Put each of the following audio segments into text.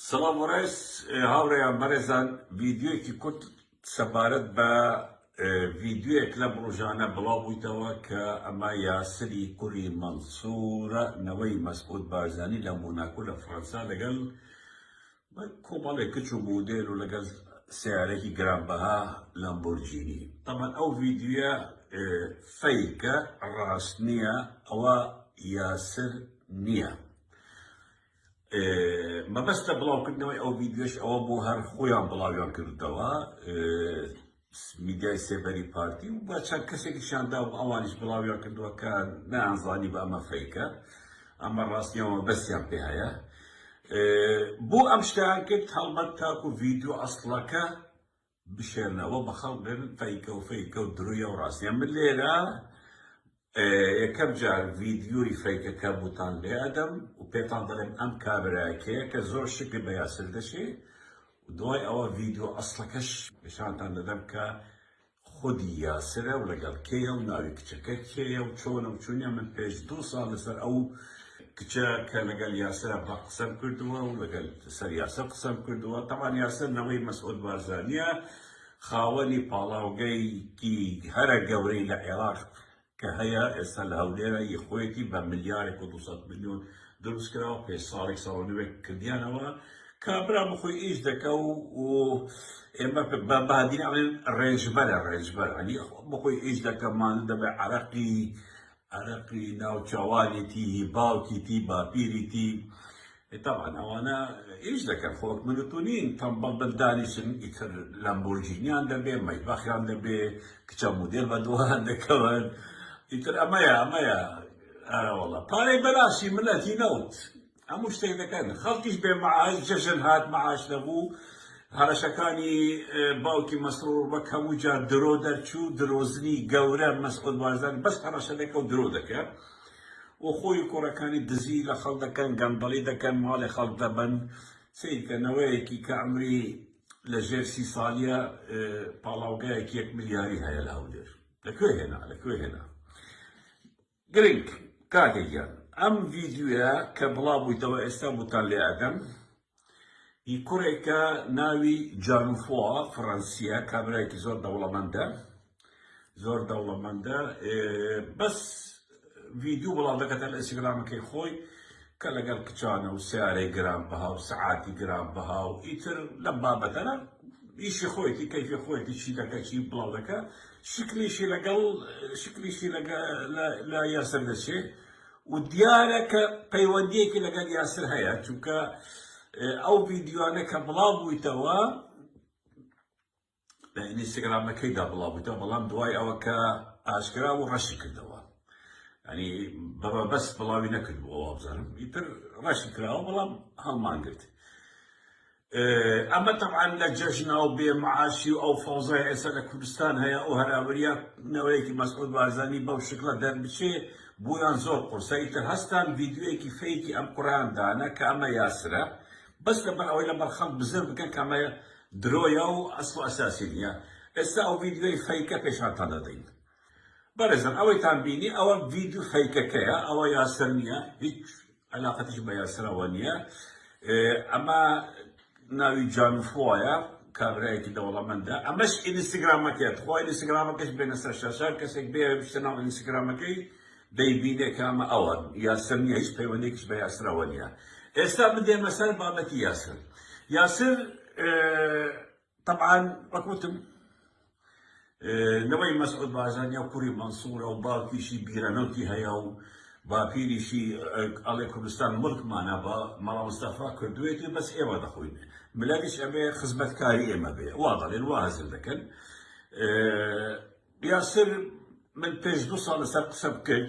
سڵاو و ڕێز هاوڕێیان بەڕێزان ڤیدیۆیەکی کورت سەبارەت بە ڤیدیۆیەک لەم ڕۆژانە بڵاو بوویتەوە کە ئەمە یاسری کوری مەنسورە نەوەی مەسعود بارزانی لە مۆناکو لە فڕەنسا لەگەڵ کۆمەڵێک کچ و مودێل و لەگەڵ سیارێکی گرانبەها لەمبورجینی تەمان ئەو ڤیدیوە فەیکە ڕاست نییە ئەوە یاسر نییە مەبەستە بڵاوکردنەوەی ئەو ویددیۆش ئەوە بۆ هەر خۆیان بڵاویان کردەوە میدیای سێبەری پارتی و بە چەند کەسێکی شاندا و ئەوانیش بڵاویان کردووە کە نانزانی بە ئەمە فەیکە ئەمە ڕاستیەوە بەسیان پێ هەیە بۆ ئەم شتیان کرد هەڵبەت تاکو ویددیو ئەسڵەکە بشێلنەوە بە خەڵک دەن فەیکە و فەیکە و درویە و ڕاستیە من لێرە یەکەم جار ڤیدیۆی فەیکەکە بوتان لێ ئەدەم و پێتان دەڵێم ئەم کابراکەیە کە زۆر شکر بە یاسر دەشێ دوای ئەوە ڤیدیۆ ئەسڵەکەش نیشانتان دەدەم کە خودی یاسرە و لەگەڵ کێیە و ناوی کچەکە کێیە و چۆنە و چونیە من پێش دوو ساڵ لەسەر ئەو کچە کە لەگەل یاسر بە قسەم کردووە و لەگەل سەر یاسر قسەم کردووە تەمان یاسر نەوەی مەسعود بارزانیە خاوەنی پاڵاوگەیکی هەرە گەورەی لە عێراق کە هەیە ئێستا لە هەولێرە ی خۆیەتی بە ملیارێک و 200 میلیۆن دروست کراوە پێ ساڵێک ساڵنوێک کردیانەوە کابرا بخۆی ئیش دەکە و ئێمە بە بادی ئەڵێن ڕێژبەرە ڕێژبەر ئەنی بخۆی ئیش دەکەمان دەبێ عراقی عەرەقی ناوچەوانیتی هی باوکیتی باپیریتی تەبان ئەوانە ئیش دەکەن خۆک من و تو نین تەمبەڵ بن دانیشن ئیتر لەمبۆرجینیان دەبێ مەیبەخیان دەبێ کچە مودێل بە دۆهان دەکەون ئیتر ئەمەیە ئەمەیە ئەرەوەڵە پارەی بەلاشی ملەتی نەوت هەموو شتێک دەکەن خەڵکیش بێ معاش جەژن هات معاش نەبوو هەڕەشەکانی باوکی مەسرور بە کەموو جار درۆ دەرچوو درۆزنی گەورە مەسعود بارزان بەس هەڕەشە دەکە و درۆ دەکە و خۆی و کوڕەکانی دزی لە خەڵک دەکەن گەندەڵی دەکەن ماڵی خەڵک دەبەن سیرکە نەوەیەکی کە عمری لە ژێر سی ساڵیە پاڵاوگایەکی یەک ملیاری هەیە لە هەولێر لەکوێ هێنا لەکوێ هێنا گرنگ، کاکە گیان ئەم ڤیدیۆیە کە بڵاو بوویتەوە ئێستا بوتان لێ ئەدەم هی کوڕێکە ناوی جانوفوا فڕەنسیە کابرایەکی زۆر دەوڵەمەندە زۆر دەوڵەمەندە بەس ڤیدیو بڵاو دەکەتە لە ئینستاگرامەکەی خۆی کە لەگەڵ کچانە و سیارەی گران بەها و سەعاتی گران بەها و ئیتر لەم بابەتەرە ئیشی خۆیتی کەیفی خۆیتی چی دەکە چی بڵاو دەکە شکلیشی لەگەڵ شکلیشی لە یاسر دەچێ و دیارە کە پەیوەندیەکی لەگەڵ یاسر هەیە چونکە ئەو ڤیددیوانە کە بڵاو بوویتەوە لە ئینستاگرامەکەیدا بڵاو بوویتەوە بەڵام دوای ئەوە کە ئاشکرا و ڕەشی کردەوە ئەنی بەبە بەس بڵاوی نەکردبووەوە بزانم ئیتر ڕەشی کراوە بەڵام هەڵمانگرت ئەمە تەبعەن لە جەژنا و بێ معاشی و ئەو فەوزای ئێستا لە کوردستان هەیە ئەو هەراوریا نەوەیەکی مەسعود بارزانی بەو شکڵە دەربچێ بویان زۆر قورسە ئیتر هەستان ڤیدیۆیەکی فەیکی ئەم کوڕەیان دانە کە ئەمە یاسرە بەس لەبەر ئەوەی لەبەر خەڵک بزر بکەن کە ئەمە درۆیە و ئەسڵ و ئەساسی نییە ئێستا ئەو ڤیدیۆی فەیکە پێشانتان دەدەین. بەڕێزان ئەوەیتان بینی ئەوە ڤیدیۆ فەیکەکەیە ئەوە یاسر نییە هیچ علاقەتیش بە یاسرەوە نییە ئەمە ناوی جانفۆیە کابرایەکی دەوڵەمەندە ئەمەش ئینستاگرامەکەت خۆ ئینستاگرامەکەش بێنە سەر شاشە کەسێک بێ بشتە ناو ئینستاگرامەکەی دەیبینێ کامە ئەوە یاسر نییە هیچ پەیوەندێکیش بە یاسرەوە نییە ئێستا بدێمە سەر بابەتی یاسر یاسر تەبعەن وەک وتم نەوەی مەسعود بارزانیا کوڕی مەنسوورە و باوکیشی بیرەنەوتی هەیە و باپیریشی ئەڵێ کوردستان ملکمانە بە مەڵا مستەفا کردوێتی بەس ئێوە دەخۆین ملەویش ئەبێ خزمەتکاری ئێمە بێ وا دەڵێن وا هەزر دەکەن یاسر من پێش دو ساڵ لەسەر قسە بکرد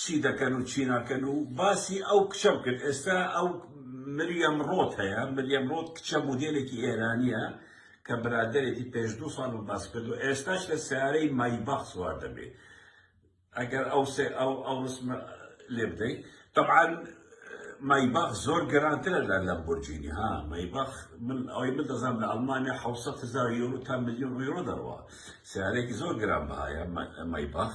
چی دەکەن و چی ناکەن و باسی ئەو کچەم کرد ئێستا ئەو مریەم ڕۆت هەیە مریەم ڕۆت کچە مودێلێکی ئێرانیە کە برادەرێتی پێش دوو ساڵ من باس کرد و ئێستاش لە سیارەی مایباخ سوار دەبێ ئەگەر ئەو سێ ئەو ئەو ڕسمە لێ بدەی طبعاً مایباخ زۆر گەرانترە لە لەمبورجینی ها مایباخ من ئەوەی من دەزانم لە ئەڵمانیا حەوسەد هەزار یۆرۆ تا ملیۆن یۆرۆ دەڕوا سیارەیەکی زۆر گرانبەهایە مایباخ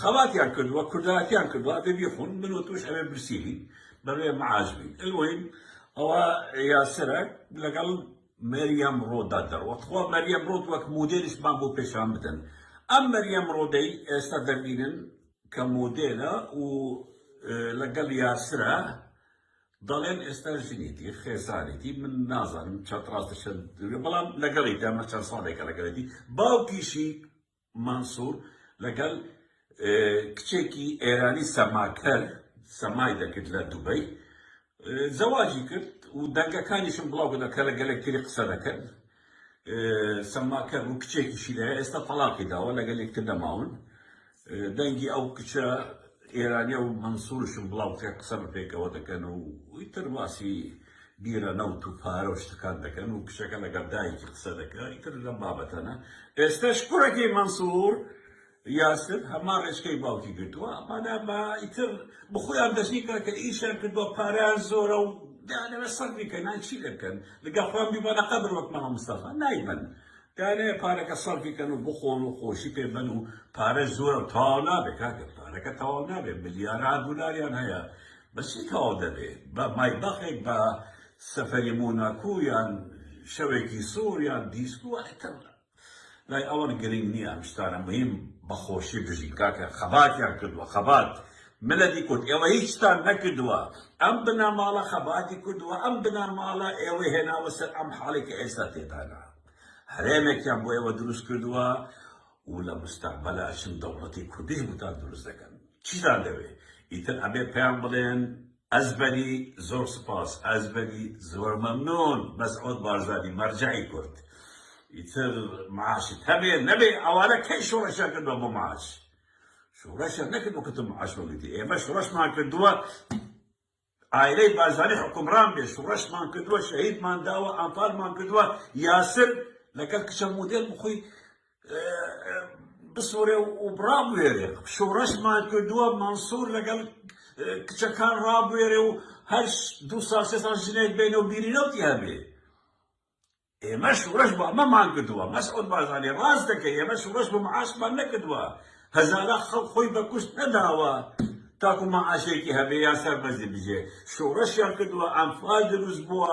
خەباتیان کردووە کوردایەتیان کردووە ئەبێ بیخون من و توش ئەبێ برسیری بەبێ معاش بین المهم ئەوە یاسرە لەگەڵ مەریەم ڕۆدا دەڕوەت خۆ مەریەم ڕۆت وەک مودێلیشمان بۆ پێشان بدەن ئەم مەریەم ڕۆدەی ئێستا دەبینن کە مودێلە و لەگەڵ یاسرە دەڵێن ئێستا ژنێتی خێزانێتی من نازانم چەند ڕاستە چەند بەڵام لەگەڵی دامە چەند ساڵێکە لەگەڵێتی باوکیشی مەنسور لەگەڵ کچێکی ئێرانی سەماکەر سەمای دەکرد لە دوبەی زەواجی کرد و دەنگەکانیشم بڵاو بوون کە لە گەلێک تری قسە دەکەن سەماکەر و کچێکیشی لە ئێستا تەڵاقی داوە لەگەل یەکتر دەماون دەنگی ئەو کچە ئێرانیە و مەنسورشم بڵاو کە قسە بە پێکەوە دەکەن و ئیتر باسی بیرە نەوت و پارە و شتەکان دەکەن و کچەکە لەگەڵ دایکی قسە دەکا ئیتر لەم بابەتانە ئێستاش کوڕەکەی مەنسوور یاسر هەمان ڕێچکەی باوکی گرتووە ئەمانە بە ئیتر بخۆیان دەستی کە کە ئیشیان کردووە پاریان زۆرە و دانەوە سەر بیکەن نان چی دەکەن لەگە خۆیان بیبەنە قەبر وەک مامە مستەفا نایبەن دانەیە پارەکە سەرفی کەن و بخۆن و خۆشی پێ بەن و پارە زۆرە تاوا نابێت کاکە پارەکە تەواو نابێت ملیاران دلاریان هەیە بە چی تەواو دەبێت؟ بە مایباخێک بە سەفەری مۆناکۆ یان شەوێکی سوور یان دیسکۆ ئیتر لای ئەوان گرینگ نیە ئەم شتانە مهیم بە خۆشی بژین کاکە خەباتیان کردوە خەبات ملەتی کورد ئێوە هیچتان نەکردوە ئەم بنەماڵە خەباتی کردوە ئەم بنەماڵە ئێوەی هێناوە سەر ئەم حاڵی کە ئێستا تێدانە هەرێمێکیان بۆ ئێوە دروست کردوە و لە مستەقبەلا چن دەوڵەتی کوردیش بۆتان دروست دەکەن چیتان دەوێ ئیتر ئەبێ پێیان بڵێن ئەزبەری زۆر سوپاس ئەزبەری زۆر مەمنون مەسعود بارزانی مەرجەعی کورد ئیتر معاشت هەبێ نەبێ ئەوانە کەی شۆڕشیان کردوە بۆ معاش شۆڕشیان نەکردوە کە تۆ معاش وەرگرتی ئێمە شۆڕشمان کردوە عایلەی بارزانی حوکمڕان بێ شوڕشمان کردوە شەهیدمان داوە ئەنفالمان کردوە یاسر لەگەل کچە مودێل بخۆی بسوڕێ و بڕابوێرێ شوڕشمان کردوە مەنسور لەگەل کچەکان ڕابوێرێ و هەر دوو سال سێ سال ژنێک بێنە و بیری نەوتی هەبێ ئێمە شوڕش بۆ ئەمەمان کردوە. مەسعود بارزانی، ڕاست دەکەی ئێمە شوڕش بۆ معاشمان نەکردوە، هەزارە خەڵک خۆی بە کوشت نەداوە تاکو معاشێکی هەبێ یان سەربەرزی بژێ، شوڕشیان کردوە، ئەنفال دروست بوە،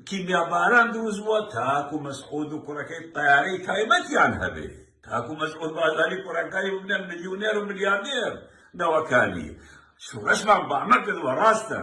کیمیا باران دروست بوە تاکو مەسعود و کوڕەکەی تەیارەی تایبەتیان هەبێ، تاکو مەسعود بارزانی کوڕەکانی ببنە ملیونێر و ملیاردێر نەوەکانی. شوڕشمان بۆ ئەمە کردوە ڕاستە.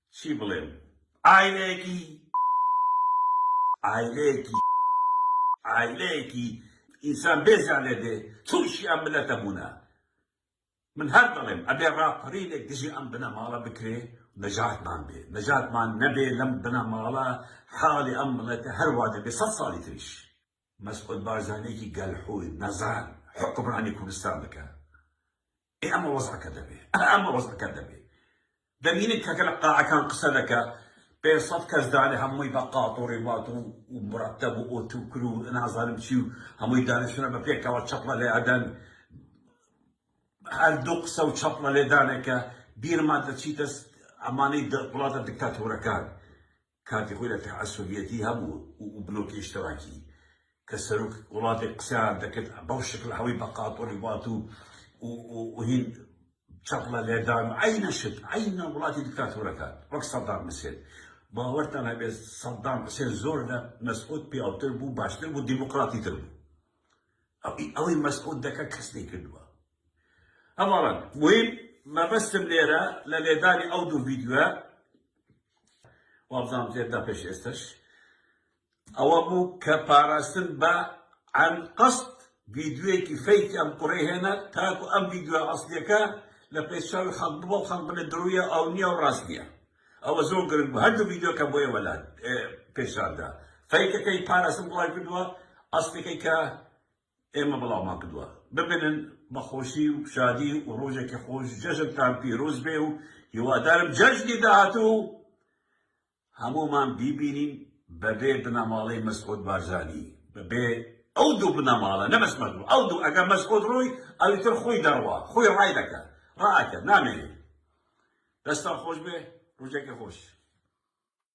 چی بڵێم عایلەیەکی عایلەیەکی عایلەیەکی ئینسان بێزیان لێ دێ توشی ئەم ملەتە بونە من هەر دەڵێم ئەبێ ڕاپەڕینێک دژی ئەم بنەماڵە بکرێ نەجاتمان بێ نەجاتمان نەبێ لەم بنەماڵە حاڵی ئەم ملەتە هەر وا دەبێ سەد ساڵی تریش مەسعود بارزانیەکی گەلحوور نەزان حوکمڕانی کوردستان بکا ئێ ئەمە وەزعەکە دەبێ ئەه ئەمە وەزعەکە دەبێ دەبینن کەکە لە قاعەکان قسە دەکە پێ سەد کەس دانێ هەمووی بە قاتۆڕی وات و مرەتەب و ئۆتوکر و نازانم چی و هەمووی دانیشتنە بە پێکەوە چەپڵە لێ ئەدەن هەر دوو قسە و چەپڵە لێدانێکە بیرمان دەچیتە ئەمانەی وڵاتە دکتاتۆرەکان کاتی خۆی لە تەعەسوبیەتی هەبوو و بلۆکی ئیشتراکی کە سەرۆک وڵاتێک قسەیان دەکرد بەو شکلە هەوی بە قاتۆنی بات و و هین چەپڵە لێدان و عینە شت عینە وڵاتی دیکتاتۆرەکان وەک سەدام حسێن باوەرتان هەبێت سەدام حسێن زۆر لە مەسعود پیاوتر بوو باشتر بوو دیموکراتی تر بوو ئەوی ئەوەی مەسعود دەکە کەس نەیکردووە ئەمەڕەن مویم مەبەستم لێرە لە لێدانی ئەو دوو ڤیدیۆە وابزانم تێدا پێش ئێستش ئەوە بوو کە پاراستن بە عن قەست ڤیدیوەیەکی فەیتی ئەم قڕێ هێنا تاکو ئەم ڤیدیوە ئەسلەکە لە پێشاوی خەڵک بۆ خەڵک بنە درویە ئەو نییە و ڕاست نییە ئەوە زۆر گرنگ بوو هەردوو ڤیدیۆکە بۆیە وەلات پێشاندا فەیکەکەی پاراستن بڵای کردووە ئەسلەکەی کە ئێمە بڵاومان کردوە بمێنن بە خۆشی و شادی و ڕۆژێکی خۆش جەژنتان پیرۆز بێ و هیوادارم جەژنی داهاتوو هەموومان بیبینین بەبێ بنەماڵەی مەسعود بارزانی بەبێ ئەو دوو بنەماڵە نەبەس مەسعود ئەو دوو ئەگەر مەسعود ڕۆی ئەوی تر خۆی دەڕوا خۆی ڕای دەکە ڕاکە نامێنێ دەستان خۆش بێ ڕۆژێکی خۆش